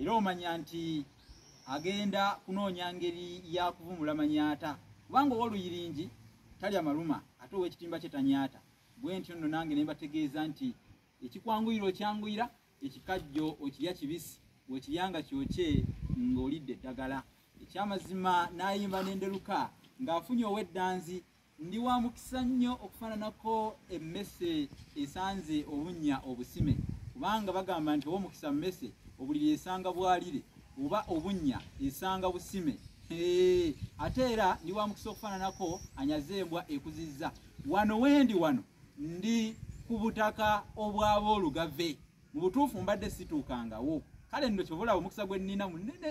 era omanya nti agenda kunoonya ngeri ya kuvumula manyaata kubanga owoluyiringi talya maluma ate owekitimba kye tanyaata bwe ntyo nno nange ne mbategeeza nti ekikwanguyira okyanguyira ekikajjo okirya kibisi wekirya nga kyokye ng'olidde eddagala ekyamazima n'ayimba n'enderuka ng'afunye ow'eddanzi Ndi wa mukisa nnyo okufaananako emmese esanze obunnya obusime kubanga bagamba nti ow'omukisa mmese obuliri esanga bwalire oba obunnya esanga busime ate era ndi wa mukisa okufaananako anyaze embwa ekuzizza wano wendi wano ndi ku butaka obwaba olugave mu butuufu mbadde situukangawo kale nno kyobulaba omukisa gwe nnina munene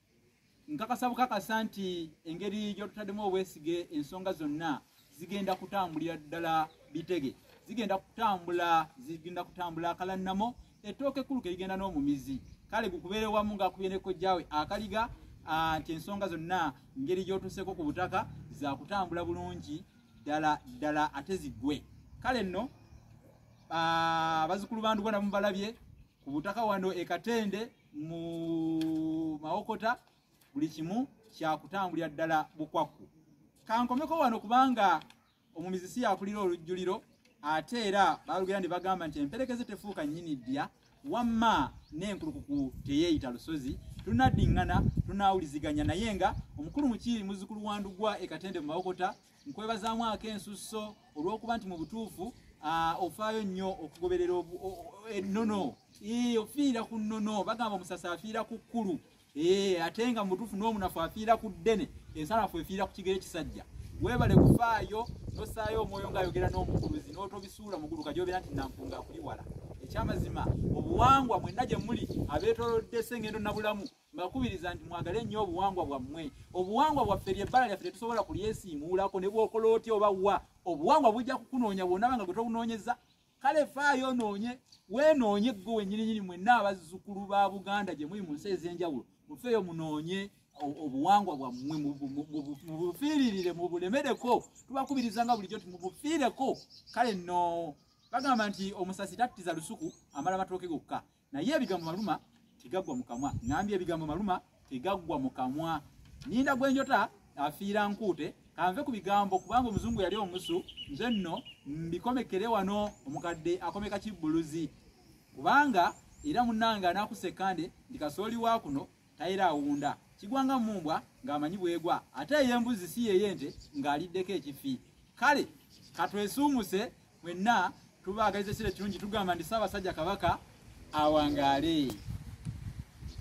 nkakasa bukakasa nti engeri gyotutaddemu obwesige ensonga zonna zigenda kutambulira ddala bitege zigenda kutambula zigenda kutambula akalannamo ettooka ekkulu kerigenda n'omumizi kale gukubeere wamu ngaakubye nekojjaawe akaliga nti ensonga zonna ngeri gyotuseeko ku butaka zakutambula bulungi ddala ddala ate ziggwe kale nno abazukulu bandugwa namubalabye ku butaka wano ekatende mu mawokota buli kimu kyakutambulira ddala bukwakku kankomeko wano kubanga omumizi si yakulira olujjuliro ate era balugera ne bagamba nti emperekeze tefuuka nnyini ddya wamma n'enkulukuku teyeeyita lusozi tunaddiŋŋana tunaawuliziganya naye nga omukulu mukiiri muzzukulu wa ndugwa ekatende mu mawokota nkwebazaamu ak'ensusso olw'okuba nti mu butuufu ofaayo nnyo okugoberera ennono ofiira ku nnono bagamba omusasi afiira ku kkulu ate nga mu butuufu n'omunafu afiira ku ddene ensanafu efiira ku kigere kisajja webale kufaayo nosaayo omwoyo ngaayogera n'omukuluzi n'otobisuula mugulu kajobera nti nampunga akuliwala ekyamazima obuwangwa mwenna gye muli abeetolodde sengendo nabulamu mbakubiriza nti mwagale nnyo obuwangwa bwammwe obuwangwa bwaffe lyebbala lyaffe tetusobola kulyesiimuulako ne bwokola otya oba wa obuwangwa bujja kukunoonya bwonaba nga gwe tobunoonyeza kale faayo onoonye weenoonye gwe wenyininyini mwenna abazzukulu ba buganda gye muli mu nsi ez'enjawulo mufeeyo munoonye obuwangwa bwammwe mubufiiririre mubulemereko tubakubiriza nga bulijjo nti mubufiireko kale no bagamba nti omusasi tattiza lusuku amala matooke gokka naye ebigambo maluma tegaggwa mu kamwa ngambye ebigambo maluma tegaggwa mu kamwa ninda gwenjota afiira nkuute kanve ku bigambo kubanga omuzungu yali omusu nze nno mbikomekere wano omukadde akomeka kibbuluzi kubanga era munange anakusekande ndi kasooli wa kuno tayira awunda kigwa nga mumbwa ng'amanyi bwegwa ate ey'embuzi si yeyente ng'aliddeko ekifi kale katwesuumuse mwenna tubaagaliza ekiro ekirungi tugamba nti ssaabasajja kabaka awangaale